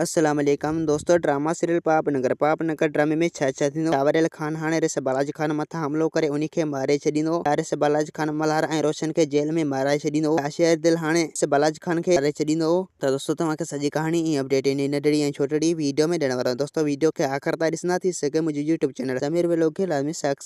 السلام عليڪم دوستو ڊراما سيريل پاپ نگر پاپ نگر ڊرامي ۾ ڇا ڇا ٿيندو ٽاوريل خان هاڻي ريس بالاجي خان مٿان حملو ڪري انهي کي ماري ڇڏيندو ڇا ريس بالاجي خان ملهار ۽ روشن کي جيل ۾ مارائي ڇڏيندو ڇا شير دل هاڻي ريس بالاجي خان کي ماري ڇڏيندو. ته دوستو توهان کي سڄي ڪهاڻي ۽ اپڊيٽ انهي ننڍڙي ۽ ڇوٽڙي ويڊيو ۾ ڏيڻ وارو آهيان دوستو ويڊيو کي آخر تائين ڏسندا ٿي سگهي منهنجي يوٽيوب چينل سمير ويلاگ کي لازمي سڪ.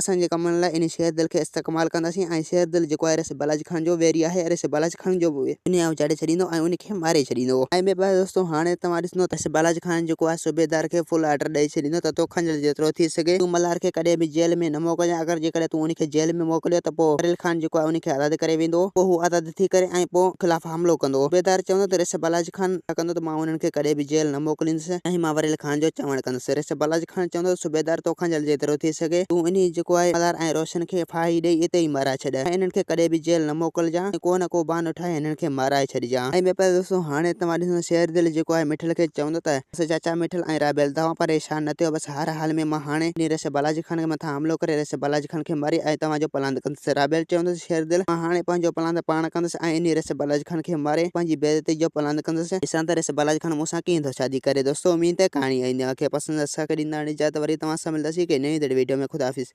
اسان جي ڪمن لاء انهي شير دل کي استعڪمال ڪنداسين ۽ شير دل جيڪو آهي رسي بلاچ کڻ جو ويري آهي ۽ رسي بلاچ کڻ جو انهي آئون چاڙهي ڇڏيندو ۽ انهي کي ماري ڇڏيندو. ۽ ٻي پاسي دوستو هاڻي توهان ڏسندو ته رسي بلاچ کڻ جيڪو آهي صوبيدار کي فل آرڊر ڏئي ڇڏيندو ته تو کنجر جيترو ٿي سگهي تون ملهار کي ڪڏهن به جيل ۾ نه موڪلجان اگر جيڪڏهن تون انهي کي جيل ۾ موڪليو ته پوء ڪريل خان جيڪو آهي انهي کي آزاد ڪري ويندو پوء هو آزاد ٿي ڪري ۽ پوء خلاف حملو ڪندو. عبيدار چوندو ته ريس بالاجي خان حملا ڪندو ته مان انهن کي ڪڏهن به جيل نه موڪليندس ۽ مان وريل خان جو چوڻ ڪندس. ريس بالاجي خان چوندو ته صوبيدار تو کان جلد جيترو ٿي سگهي تون انهي جيڪو آهي مزار ۽ روشن کي ڦاهي ڏئي اتي ئي مارائي ڇڏ ۽ انهن کي ڪڏهن به جيل نه موڪلجان ۽ ڪو نه ڪو بهانو ٺاهي انهن کي مارائي ڇڏجان. ۽ ٻيو پاسو دوستو هاڻي توهان ڏسندا شير دل جيڪو آهي مٺل کي چوندو ته. بس چاچا مٺل ۽ رابيل توهان پريشان نه ٿيو بس هر حال ۾ مان هاڻي وڃي رئيس بالاجي خان کي مٿان حملو ڪري رئيس بالاجي خان کي ماري ۽ توهان جو پلاند ڪندس رابيل چوندس شير دل مان هاڻي پنهنجو پلاند پاڻ ڪندس ۽ وڃي رئيس بالاجي خان کي ماري پنهنجي بي عزتي جو پلاند ڪندس. ڏسان ته رئيس بالاجي خان مون سان ڪيئن ٿو شادي ڪري دوستو اميد ته ڪهاڻي اهي نيو کي پسند اٿس ساکي ڏيندڙ ڏي اجازت وري توهان سان ملنداسين هڪ نئين ڌڙي ويڊيو ۾ خداحافظ.